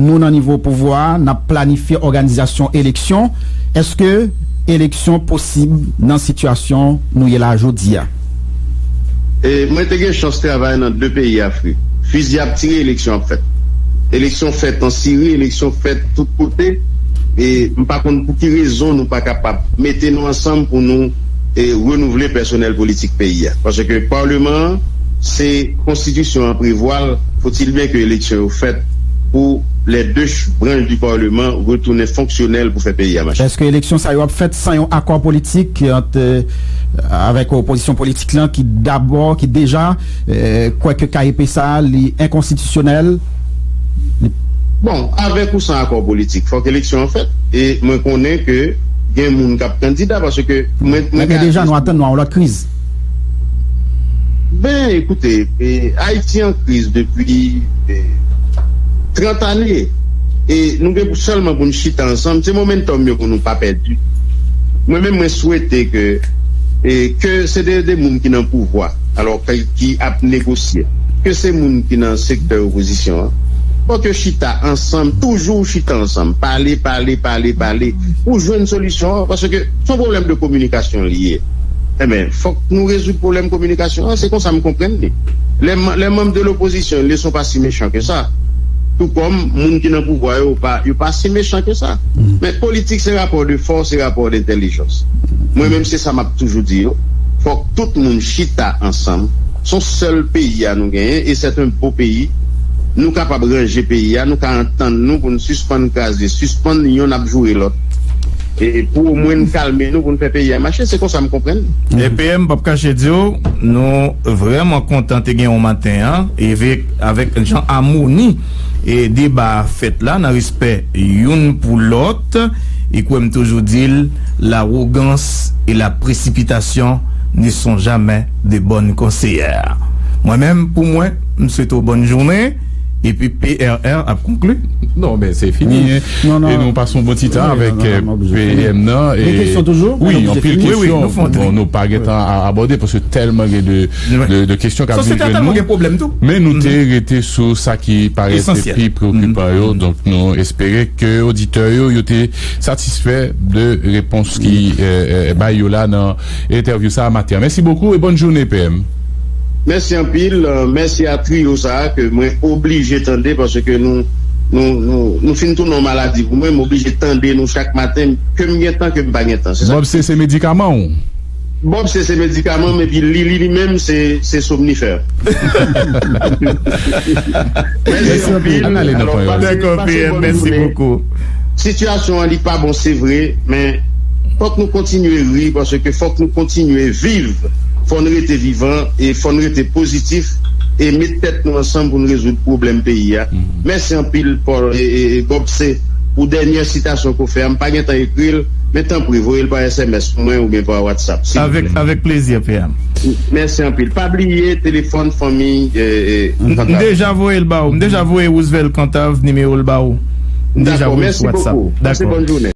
Nou nan nivo pouvwa a nap planifye òganizasyon eleksyon, èske eleksyon posib nan sitiyasyon nou ye la jodi a? E mwen te gen chans travay nan 2 peyi Afrik. Fizi ap tire eleksyon ap fèt. Eleksyon fèt an Siri, eleksyon fèt tout kote e m pa konn pou ki rezon nou pa kapab mete nou ansanm pou nou renouvle pèsonèl politik peyi a. Paske paleman an se konstitisyon an prevwa l fouti l byen ke eleksyon yo fèt. pou lè 2 branch di parleman retounen fonksyonèl pou fè peyi a mache. Eske eleksyon sa yo ap fèt san yon akò politik ant avèk opozisyon politik lan ki dabò ki deja kwè ke KEP sa li enkonstitisyonèl? Bon, avèk ou san akò politik fòk eleksyon an fèt e mwen konnen ke gen moun kap kandida paske mwen gade. Men deja nou atann nou a yon lòt kriz. Ben ekoute Ayiti an kriz depi 30 ane e nou gen pou sèlman pou nou chita ansanm se momentum yo pou nou pa pèdi mwen menm mwen swete ke ke se de moun ki nan pouvwa alò ki ap negosye ke se moun ki nan sektè opozisyon an fòk yo chita ansanm toujou chita ansanm pale pale pale pale pou jwenn solisyon an paske son pwoblèm de kominikasyon li ye. Enben, fòk nou rezoud pwoblèm kominikasyon an, se konsa m konprann li. Lè manm de lopozisyon le son pa si mechan ke sa, tou kòm moun ki nan pouvwa yo pa yo pa si mechan ke sa. Men politik se rapò de fòs, se rapò dentèlijans. Mwen menm se sa m ap toujou di yo, fòk tout moun chita ansanm, s on sèl peyi a nou genyen e sèt en bo peyi, nou kapab ranje peyi a, nou ka antann nou pou n sispann kraze, sispann yonn ap joure lòt. E pou o mwen n kalme nou pou n fè peyi a mache, se konsa m konprann li. Epe m pap kache di w, nou vrèman kontan te gen w maten an, e vek avèk jan amoni e deba a fèt la nan respè youn pou lòt, e kwè m toujou di l, larogans e la presipitasyon ne son jamè de bòn konseyè. Mwen menm pou mwen, m swete w bòn jounen. Epi PRR ap konkli. Non men se fini e nou pa son bon ti tan avèk PM nan e Gen kesyon toujou? Wi anpil kesyon bon nou pa gen tan abòde paske tèlman gen de kesyon kap vin jwenn nou men nou te rete sou sa ki parèt te pi preokipan yo donk nou espere ke oditè yo yo te satisfè de repons ki bay yo la nan entèvyou sa maten an mèsi bokou e bòn joune PM. Mèsi anpil, mèsi a trio sa ke mwen oblije tande paske nou nou fin tounen yon maladi pou mwen, m oblije tande nou chak maten ke m gen tan ke m pa gen tan. Bob se se medikaman w? Bob se se medikaman m epi Lili li menm se somnifè. Mèsi anpil. Mèsi anpil PM mèsi bokou. Sitiyasyon an li pa bon se vre men fòk nou kontinye ri paske fòk nou kontinye viv fò n rete vivan e fò n rete pozitif e met tèt nou ansanm pou n rezoud pwoblèm peyi a mèsi anpil Paul Gobse pou dènyè sitasyon ke w fè a m pa gentan ekri l men tanpri voye l pa sms pou mwen oubyen pa whatsapp silvouplè. Avèk plezi PM. Mèsi anpil. Pa bliye telefòn fanmi Kantav. M deja voye l ba ou. M deja voye Roosevelt Kantav nimewo l ba ou. M deja voye l sou WhatsApp. Dako. Mèsi bokou. Pase bòn jounen.